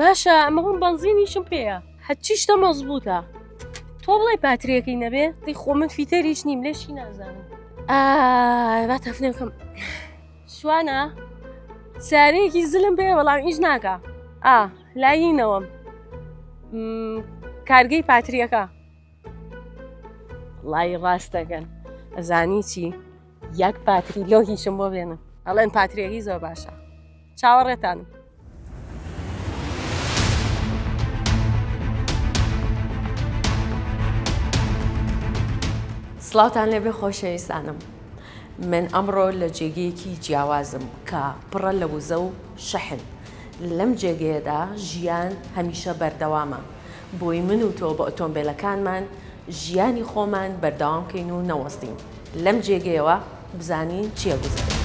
باشە ئەمە هەم بەنزینیشم پێەیە هەچی شتە مەزبووتە تۆ بڵێ پاتریەکەی نەبێ دی خۆ من فیتەریش نیم لێشی نازانم با تەفنێکم شوانە سارەیەکی زلم بێ بەڵام هیچ ناکە ئا لایینەوەم کارگەی پاتریەکە وەڵایی ڕاست دەگەن ئەزانی چی یەک پاتری لۆ هیچم بۆ بێنن ئەڵێن پاترێکی زۆر باشە چاوەڕێتانم سلاوتان لێبێ خۆشەویستانم من ئەمڕۆ لە جێگەیەکی جیاوازم کە پڕە لە وزە و شەحن لەم جێگەیەدا ژیان هەمیشە بەردەوامە بۆی من و تۆ بە ئۆتۆمبێلەکانمان ژیانی خۆمان بەردەوام کەین و نەوەستین لەم جێگەیەوە بزانین چیە گوزەرە.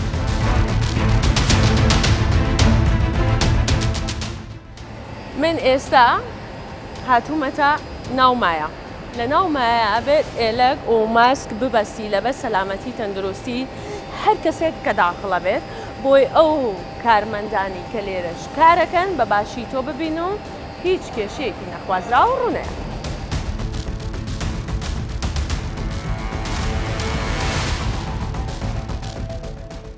من ئێستا هاتوومەتە ناو مایە. لە ناو مایە ئەبێت ئێلەگ و ماسک ببەستی لەبەر سەلامەتی تەندروستی هەر کەسێک کە داخڵە بێت بۆی ئەو کارمەندانی کە لێرەش کارەکەن بە باشی تۆ ببین و هیچ کێشەیەکی نەخوازراو ڕونەیە.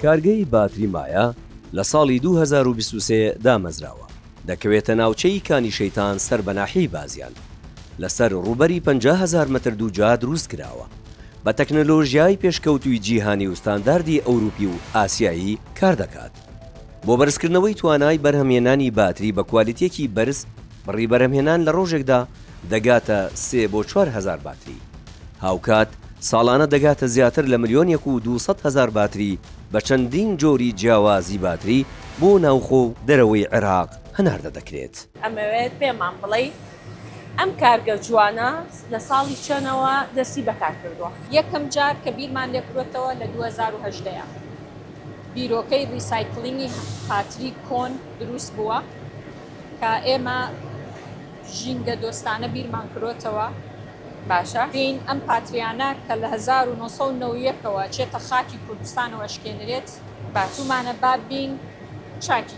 کارگەی باتری مایا لە ساڵی دوو هەزار و بیست و سێ دامەزراوە، دەکەوێتە ناوچەی کانی شەیتان سەر بە ناحیەی بازیان، لەسەر ڕووبەری پەنجا هەزار مەتر دووجا دروست کراوە، بە تەکنەلۆژیای پێشکەوتووی جیهانی و ستانداردی ئەوروپی و ئاسیایی کاردەکات. بۆ بەرزکردنەوەی توانای بەرهەمهێنانی باتری بە کوالیتییەکی بەرز، بڕی بەرهەمهێنان لە ڕۆژێکدا دەگاتە سێ بۆ چوار هەزار باتری. هاوکات ساڵانە دەگاتە زیاتر لە ملیۆنێک و دوو سەد هەزار باتری بە چەندین جۆری جیاوازی باتری بۆ ناوخۆ و دەرەوەی عێراق هەناردە دەکرێت. ئەمەوێت پێمان بڵێی ئەم کارگە جوانە لە ساڵی چەنەوە دەستی بەکار کردووە؟ یەکەم جار کە بیرمان لێ کروەتەوە لە دوو هەزار و هەژدە ەیە بیرۆکەی ریسایکلینگی هاتری کۆن دروست بووە کە ئێمە ژینگە دۆستانە بیرمان کروەتەوە. باشە بێین ئەم پاتریانە کە لە هەزار و نۆ سەد و نەوەد و یەک ەوە چێتە خاکی کوردستانەوە ئەشکێنرێت؟ باشومانە با بێین چاکی.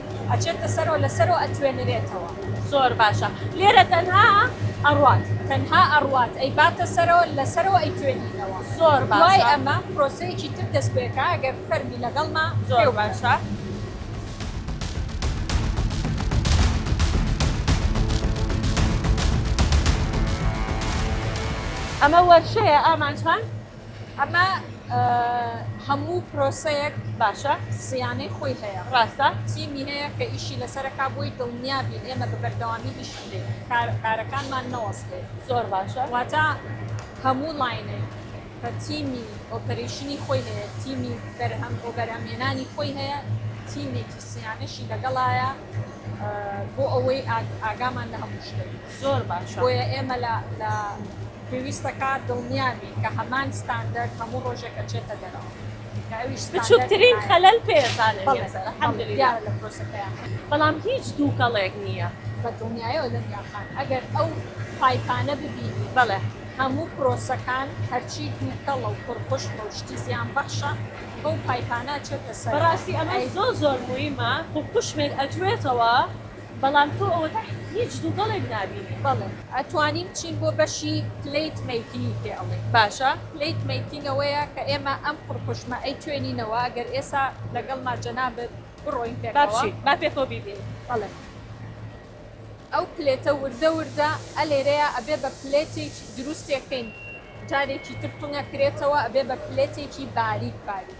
ئەچێتە سەرەوە لەسەرەوە ئەتوێنرێتەوە. زۆر باشە لێرە تەنها ئەڕوات. تەنها ئەڕوات ئەیباتە سەرەوە لەسەرەوە ئەیتوێنینەوە. زۆر باشە دوای ئەمە پرۆسەیەکی تر دەست پێکا گەر بفەرمی لەگەڵما زۆر باشە. پێو بڵێ. ئەمە وەرشەیە ئامانجمان. ئەمە هەموو پرۆسەیەک باشە سیانەی خۆی هەیە ڕاستە تیمی هەیە کە ئیشی لەسەرەکە بۆی دڵنیابین ئێمە بە بەردەوامی ئیش بکەین کارەکانمان نەوەستێت زۆر باشە واتە هەموو لاینێک کە تیمی ئۆپەرشنی خۆی هەیە تیمی بەرهەم بۆ بەرهەمێنانی خۆی هەیە تیمێکی سیانەشی لەگەڵایە بۆ ئەوەی ئاگامان لە هەموو شتێک زۆر باشە بۆیە ئێمە لە لە پێویستە کا دڵنیا بین کە هەمان ستاندەر هەموو ڕۆژێک ئەچێتە دەرەوە بچووکترین خەلەل پێ لە پرۆسەکەیە بەڵام هیچ دووکەڵێک نییە بە دڵنیایەوە لەم یاخان ئەگەر ئەو پایپانە ببینی بەڵێ هەموو پرۆسەکان هەرچی دووکەڵە و پڕخش بە شتی زیان بەخشە بەو پایپانە چێتە سەر ڕاستی ئەمە زۆ زۆر مویمە و قوشمێک ئەتوێتەوە بەڵام تۆ ئەوەتا هیچ دووگەڵێک نابینی بەڵێ. ئەتوانین بچین بۆ بەشی پلەیت مەیکینی پێ ئەڵێین باشە پلەیت مەیکین ئەوەیە کە ئێمە ئەم قڕقوشمە ئەی توێنینەوە گەر ئێسا لەگەڵما جەنابت بڕۆین پێکەوە. با بچین با پێکەوە بیبینین. بەڵێ ئەو پلێتە وردە وردە ئە لێرەیا ئەبێ بە پلێتێکی دروستێ کەین جارێکی تر تونە کرێتەوە ئەبێ بە پلێتێکی باریک باریک.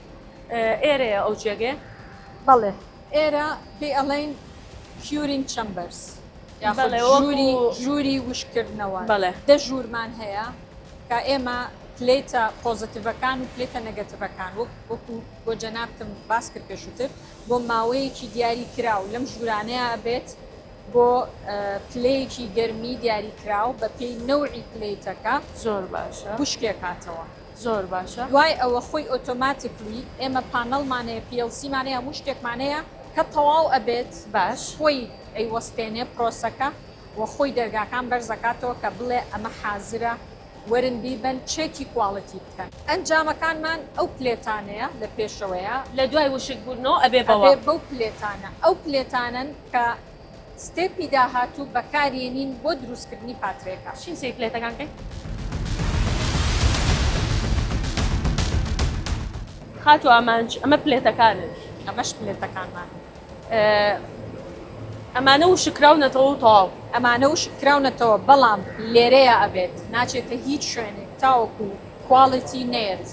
ئێرەیە ئەو جێگەیە؟ بەڵێ ئێرە پێی ئەڵێن کیورینگ چەمبەرس ژووری وشکردنەوە بەڵێ دە ژوورمان هەیە کە ئێمە پلیتە پۆزتیڤەکان و پلیتە نەگەتیڤەکان وەک وەکو بۆ جەنابتم باس کرد پێشووتر بۆ ماوەیەکی دیاری کراو لەم ژوورانەیە بێت بۆ پلەیەکی گەرمی دیاری کراو بە پێی نەوعی پلیتەکە زۆر باشە وشکێکاتەوە. زۆر باشە. دوای ئەوە خۆی ئۆتۆماتیکلی ئێمە پانەڵمان هەیە plc مان هەیە هەموو شتێکمان هەیە کە تەواو ئەبێت باش خۆی ئەیوەستێنێ پرۆسەکە و خۆی دەرگاکان بەرز ئەکاتەوە کە بڵێ ئەمە حازرە وەرن بیبەن چێکی کواڵیتی بکەن. ئەنجامەکانمان ئەو پلێتانەیە لە پێشەوەیە. لە دوای وشک بوونەوە ئەبێ بەوە. ئەبێ بەو پلێتانە. ئەو پلێتانەن کە. ستێپی داهاتوو بەکارێنین بۆ دروستکردنی پاترێکە. چین سەیر پلێتەکان کەین. خاتوو ئامانج ئەمە پلێتەکانن. ئەمەش پلێتەکانمانن. ئەمانە وشککراونەتەوە و تەواو. ئەمانە وشککراونەتەوە بەڵام لێرەیا ئەبێت ناچێتە هیچ شوێنێک تاوەکو کواڵیتی نەیەت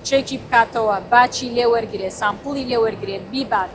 چێکی بکاتەوە باچی لێ وەرگرێ سامپڵی لێ وەرگرێ بیبات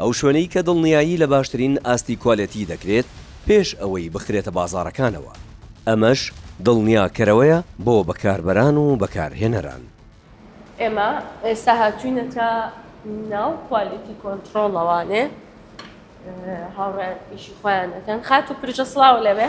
ئەو شوێنەی کە دڵنیایی لە باشترین ئاستی کوالێتی دەکرێت پێش ئەوەی بخرێتە بازاڕەکانەوە، ئەمەش دڵنیاکەرەوەیە بۆ بەکاربەران و بەکارهێنەران. ئێمە ئێستا هاتووینەتە ناو کوالێتی کۆنتڕۆڵەوانێ هاوڕێیان ئیشی خۆیان دەکەن. خاتوو پرژە سڵاو لەوێ.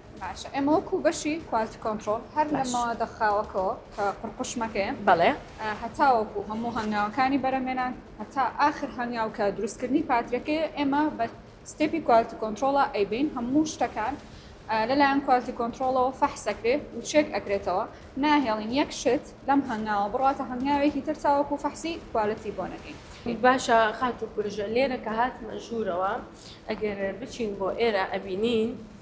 باشە ئێمە وەکو بەشی کوالتی کۆنترۆل هەر لە مەوادە خاوەکەوە کە قڕقشمەکەیە بەڵێ هەتا وەکو هەموو هەنگاوەکانی بەرەمێنان هەتا ئاخر هەنگاو کە دروستکردنی پاترەکەی ئێمە بە ستێپی کوالتی کۆنترۆڵە ئەیبین هەموو شتەکان لەلایەن کوالتی کۆنترۆڵەوە فەحسەکرێ و چێک ئەکرێتەوە ناهێڵین یەک شت لەم هەنگاوە بڕاتە هەنگاوێکی تر تاوەکو فەحسی کوالتی بۆ نەکەین باشە خاتو کوژە لێرە کە هاتمە ژوورەوە ئەگەر بچین بۆ ئێرە ئەبینین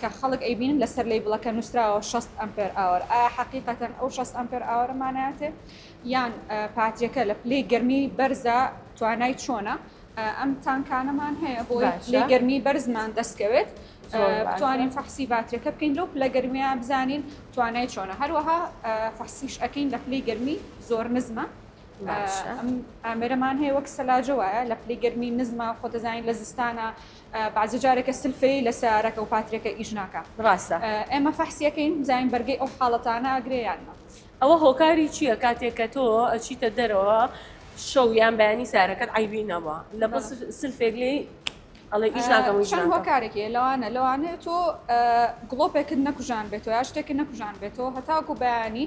کە خەڵک ئەیبینن لەسەر لەیبڵەکە نوسراوە شەست ئەمپێر ئاوەر ئایا حەقیقەتەن ئەو شەست ئەمپێر ئاوەرە مانایەتێ یان پاتریەکە لە پلەی گەرمی بەرزە توانای چۆنە ئەم تانکانەمان هەیە بۆ لەی گەرمی بەرزمان دەستکەوێت بتوانین فەحسی باتریەکە بکەین لەو پلە گەرمیان بزانین توانای چۆنە هەروەها فەحسیش ئەەکەین لە پلەی گەرمی زۆر نزمە ئەمەرەمان هەیە وەک سەلاجە وایە لە پلی گەرمی نزمە خۆ دەزانین لە زستانە بەعزێ جارێکە سلفی لە سەیارەکە و پاترێکە ئیش ناکا. ڕاستە. ئێمە فەحسی ئەکەین بزانین بەرگەی ئەو حاڵەتانە ئەگرێ یان نا. ئەوە هۆکاری چییە کاتێک کە تۆ ئەچیتە دەرەوە شەو یان بەیانی سەیارەکەت عەیبی نەبا لەبەر سلفێک لێی ئەڵێ ئیش ناکەم و ئیش ناکەم؟ چەند هۆکارێک هەیە لەوانە لەوانەیە تۆ گڵۆپێکت نەکوژانبێتەوە یا شتێکت نەکوژانبێتەوە هەتاکوو بەیانی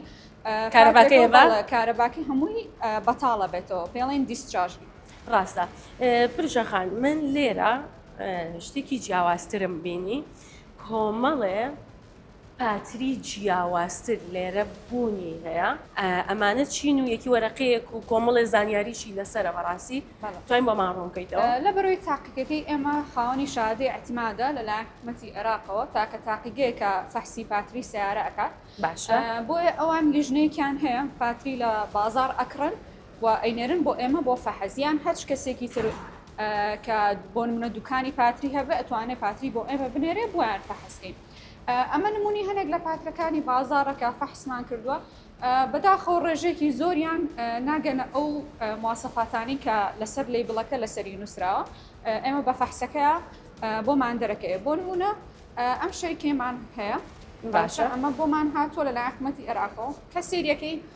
کارەباکەی هەبا؟ کارەباکەی هەمووی بەتاڵە بێتەوە پێڵێن دیسچارژ. ڕاستە پرژە خان من لێرە شتێکی جیاوازترم بینی کۆمەڵێ پاتری جیاوازتر لێرە بوونی هەیە ئەمانە چین و یەکی وەرەقەیەک و کۆمەڵێ زانیاریشی لەسرە بەڕاستی توانین بۆ ماڕۆنکەیتەوە لە بەرەوەی تاقیەکەی ئێمە خاوەنی شادی ئەتیمادە لەلایەن حکوومەتتی عێراقەوە تاکە تاقیگەیەکە فەحسی پاتری سیارە ئەکات باشە بۆیە ئەوان لیژنەیەکیان هەیە پاتری لە بازار ئەکڕن و ئەینێرن بۆ ئێمە بۆ فەحس یان هەچ کەسێکی تر کە بۆ نمونە دوکانی پاتری هەبێ ئەتوانێ پاتری بۆ ئێمە بنێرێ بۆیان فەحسکەین ئەمە نمونی هەنێک لە پاترەکانی بازارەکە فەحسمان کردووە بەداخەوە ڕێژێکی زۆریان ناگەنە ئەو مواسەفاتانی کە لەسەر لی بڵەکە لەسەری نووسراوە ئێمە بە فەحسەکە بۆمان دەرەکەی بۆ نمونە ئەم شەرکێمان هەیە باشە ئەمە بۆمان هاتووە لە لای حکومەتی عێراقەوە کە سریەکەی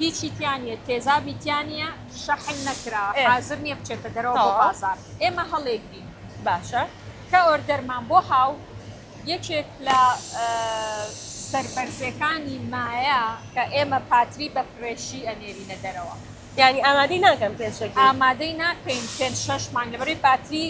هیچی تیا نیە تێزابی تیا نیە شەحن نەکرا حازر نیە بچێتە دەرەوە بۆ بازار ئێمە هەڵێگرین باشە کە ئۆردەرمان بۆ هاو یەکێک لە سەربەرزەکانی مایە کە ئێمە پاتری بە فرێشی ئەنێرینە دەرەوە یانی ئامادەی ناکەن پێشەکی ئامادەی ناکەین پێ شەش مانگە بەری پاتری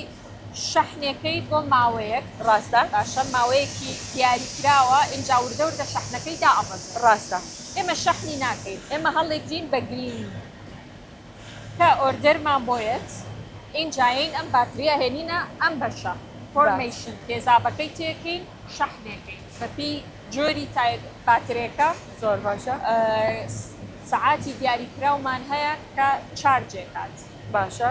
شەحنەکەی بۆ ماوەیەک. ڕاستە. باشە ماوەیەکی دیاریکراوە ئینجا وردە وردە شەحنەکەی دائەبەزێ. ڕاستە. ئێمە شەحنی ناکەین ئێمە هەڵیگرین بە گرینگ کە ئۆردەرمان بۆ یەت ئینجا یەین ئەم باتریە هێنینە ئەم بەشە فۆرمەیشن تێزابەکەی تێکەین شەحنێکەین بەپی جۆری تایپ باترێکە. زۆر باشە. سەعاتی دیاریکراومان هەیە کە چارجێکات. باشە.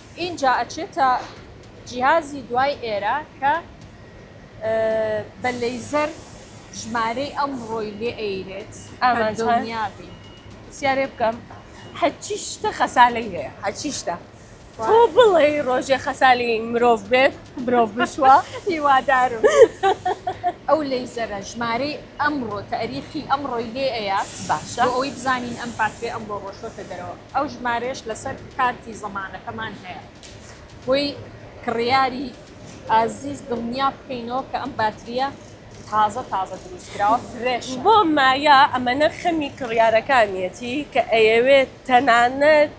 ئینجا ئەچێتە جیهازی دوای ئێرە کە بە لەیزەر ژمارەی ئەمڕۆی لێ ئەیرێت ئەمە دڵنیابی سیارێ بکەم هەچی شتە خەسالەی هەیە هەچی شتە تۆ بڵێ ڕۆژێ خەسالی مرۆڤ بێت مرۆڤ بشوە هیوادارم ئەو لەیزەرە ژمارەی ئەمڕۆ تاریخی ئەمڕۆی لێ ئەیە باشە ئەوەی بزانین ئەم پاترێ ئەمڕۆ ڕۆشتە دەرەوە ئەو ژمارەیەش لەسەر کارتی زەمانەکەمان هەیە بۆی کڕیاری ئازیز دڵنیا بکەینەوە کە ئەم باتریە تازە تازە دروست کراوە فرێش بۆ مایا ئەمەە خەمی کڕیارەکانیەتی کە ئەیەوێت تەنانەت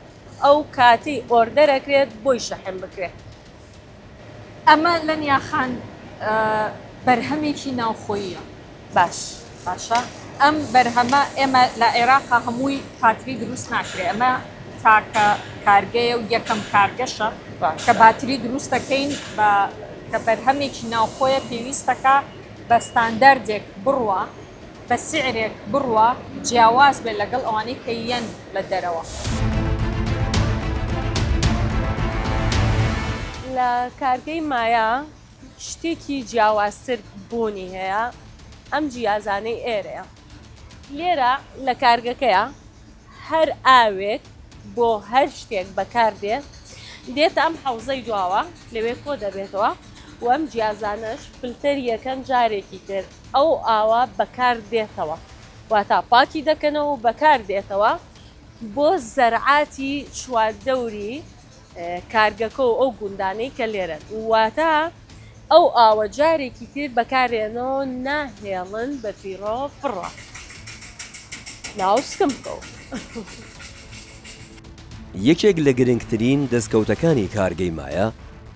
ئەو کاتی ئۆردەرەکرێت بۆی شەحن بکرێت ئەمە لەنیا خان بەرهەمێکی ناوخۆییە. باش باشە ئەم بەرهەمە ئێمە لە عێراقا هەمووی پاتری دروست ناکرێ ئەمە تاکە کارگەیە و یەکەم کارگەشە کە باتری دروست دەکەین بە کە بەرهەمێکی ناوخۆیە پێویستەکە بە ستانداردێک بڕوە بە سیعرێک بڕوا جیاواز بێت لەگەڵ ئەوانەی کە یەن لە دەرەوە. لە کارگەی مایا شتێکی جیاوازتر بوونی هەیە ئەم جیازانەی ئێرەیە. لێرە لە کارگەکەیا هەر ئاوێک بۆ هەر شتێک بەکار دێ دێتە ئەم حەوزەی دواوە لەوێ کۆ دەبێتەوە و ئەم جیازانەش فلتەری یەکەن جارێکی تر. ئەو ئاوە بەکار دێتەوە واتا پاکی دەکەنەوە و بەکار دێتەوە بۆ زەرعاتی چواردەوری کارگەکە و ئەو گوندانەی کە لێرەن واتا ئەو ئاوە جارێکی تر بەکارێنەوە ناهێڵن بە فیڕۆ فڕە ناو سکم بکەوە. یەکێک لە گرنگترین دەستکەوتەکانی کارگەی مایە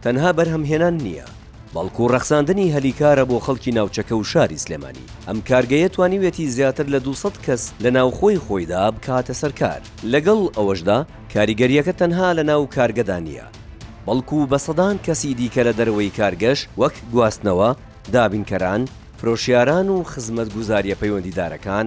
تەنها بەرهەمهێنان نییە، بەڵکو ڕەخساندنی هەلی کارە بۆ خەڵکی ناوچەکە و شاری سلێمانی، ئەم کارگەیە توانیویەتی زیاتر لە دوو سەد کەس لە ناوخۆی خۆیدا بکاتە سەر کار، لەگەڵ ئەوەشدا کاریگەرییەکە تەنها لە ناو کارگەدا نییە، بەڵکو بە سەدان کەسی دیکە لە دەرەوەی کارگەش وەک گواستنەوە، دابینکەران، فرۆشیاران و خزمەتگوزارییە پەیوەندیدارەکان،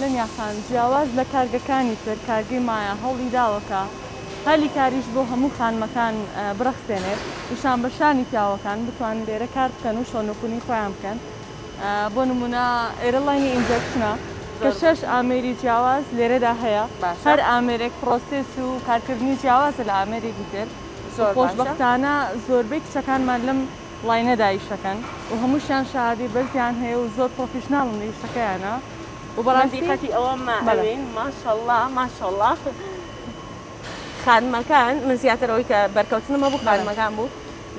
لەمیا خان جیاواز لە کارگەکانی تر کارگەی مایا هەوڵیداوە کە هەلی کاریش بۆ هەموو خانمەکان بڕەخسێنێت و شانبەشانی پیاوەکان بتوانن لێرە کار بکەن و شەونکونی خۆیان بکەن بۆ نمونە ئێرەڵاینی ئینجەکشنە کە شەش ئامێری جیاواز لێرەدا هەیە هەر ئامێرێک پرۆسس و کارکردنی جیاوازە لە ئامێرێکی تر خۆشببختانە زۆربەی کچەکانمان لەم وڵای نەدا ئیشەکەن و هەمووشیان شەهادەی بەرزیان هەیە و زۆر پڕۆفیشناڵن لە ئیشەکەیانا و بە ڕاستی من دیقەتی ئەوەم ئەوێین ماشەڵا ماشەڵا خانمەکان من زیاتر ئەوەی کە بەرکەوتنم هەبوو خانمەکان بوو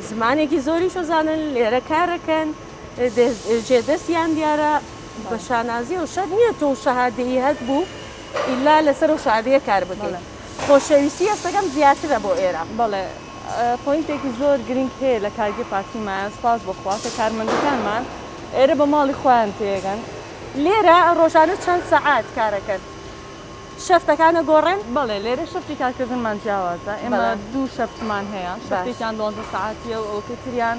زمانێکی زۆریش ئەزانن لێرە کارەکەن جێ دەستیان دیارە بە شانازی و شەر نییە تۆ شەهادەیی هەت بوو ئیلا لەسەر و شادەیە کار بکەن خۆشەویستی ئێستەکەم زیاترە بۆ ئێرە بەڵێ پۆینتێکی زۆر گرینگ هەیە لە کارگەی پارتی مایان سوپاس بۆ خوا کە کارمەندەکانمان ئێرە بە ماڵی خۆیان تێگەن لێرە ڕۆژانە چەند سەعات کارەکەن شەفتەکانە گۆڕێن؟ بەڵێ لێرە شەفتی کارکردنمان جیاوازە ئێمە دوو شەفتمان هەیە شەفتێکیان دوانزە سەعاتیە و ئەوکەی تریان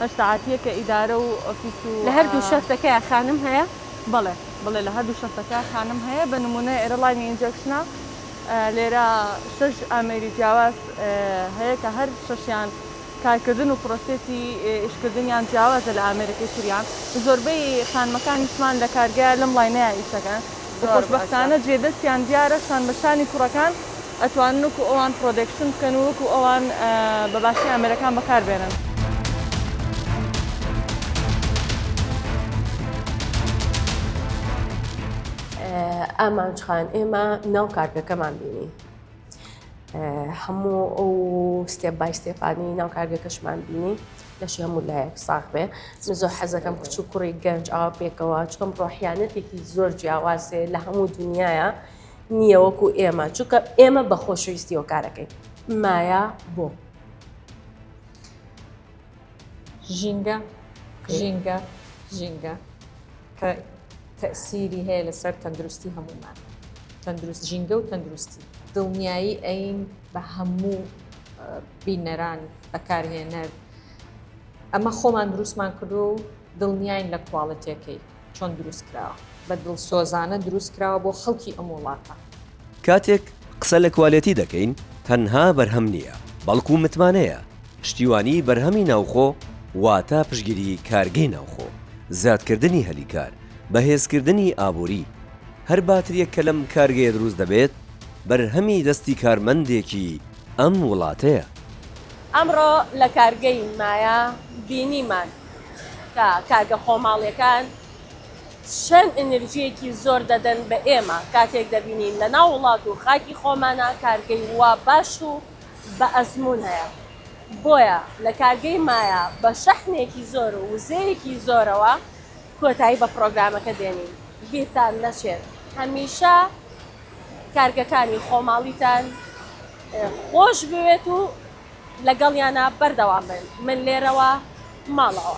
هەشت سەعاتیە کە ئیدارە و ئۆفیس و لە هەردوو شەفتەکەیان خانم هەیە؟ بەڵێ بەڵێ لە هەردوو شەفتەکە خانم هەیە بە نمونە ئێرە ڵاینی ئینجەکشنە لێرە شەش ئامێری جیاواز هەیە کە هەر شەشیان کارکردن و پرۆسێسی ئیشکردنیان جیاوازە لە ئامێرەکەی تریان زۆربەی خانمەکانیشمان لە کارگەیە لەم لاینەیە ئیشەکەن و خۆشبەختانە جێدەستیان دیارە شان بە شانی کوڕەکان ئەتوانن وەکو ئەوان پرۆدەکشن بکەن و وەکو ئەوان بە باشی ئامێرەکان بەکاربێنن. ئامانج خان ئێمە ناو کارگەکەمان بینی هەموو ئەو ستێپ بای ستێپانی ناو کارگەکەشمان بینی لەشی هەموو لایەک ساخ بێ من زۆر حەزەکەم کچ و کوڕی گەنج ئاوا پێکەوە چکەم ڕۆحیانەتێکی زۆر جیاوازێ لە هەموو دنیاە نییە وەکو ئێمە چونکە ئێمە بە خۆشەویستی و کارەکەین مایا بۆ ژینگە ژینگە ژینگە کە تەئسیری هەیە لەسەر تەندروستی هەموومان تەندروست ژینگە و تەندروستی دڵنیایی ئەین بە هەموو بینەران بەکارهێنەر ئەمە خۆمان دروستمان کردو و دڵنیین لە کوواڵەتەکەی چۆن دروست کراوە بە دڵسۆزانە دروست کراوە بۆ خەڵکی ئەم وڵاتە. کاتێک قسە لە کوالێتی دەکەین تەنها بەرهەم نییە، بەڵکو متمانەیە، پشتیوانیی بەرهەمی ناوخۆ واتە پشتگیریی کارگەی ناوخۆ، زیادکردنی هەلی کار، بەهێزکردنی ئابووری. هەر باترییەک کە لەم کارگەیە دروست دەبێت، بەرهەمی دەستی کارمەندێکی ئەم وڵاتەیە. ئەمڕۆ لە کارگەی مایا بینیمان کە کارگە خۆماڵییەکان چەند ئینرجیەکی زۆر دەدەن بە ئێمە کاتێک دەبینین لە ناو وڵات و خاکی خۆمانا کارگەی وا باش و بە ئەزموون هەیە بۆیە لە کارگەی مایا بە شەحنێکی زۆر و وزەیەکی زۆرەوە کۆتایی بە پڕۆگرامەکە دێنین بیرتان نەچێت هەمیشە کارگەکانی خۆماڵیتان خۆش بوێت و لەگەڵیانا بەردەوام بن من لێرەوە ماڵەوە.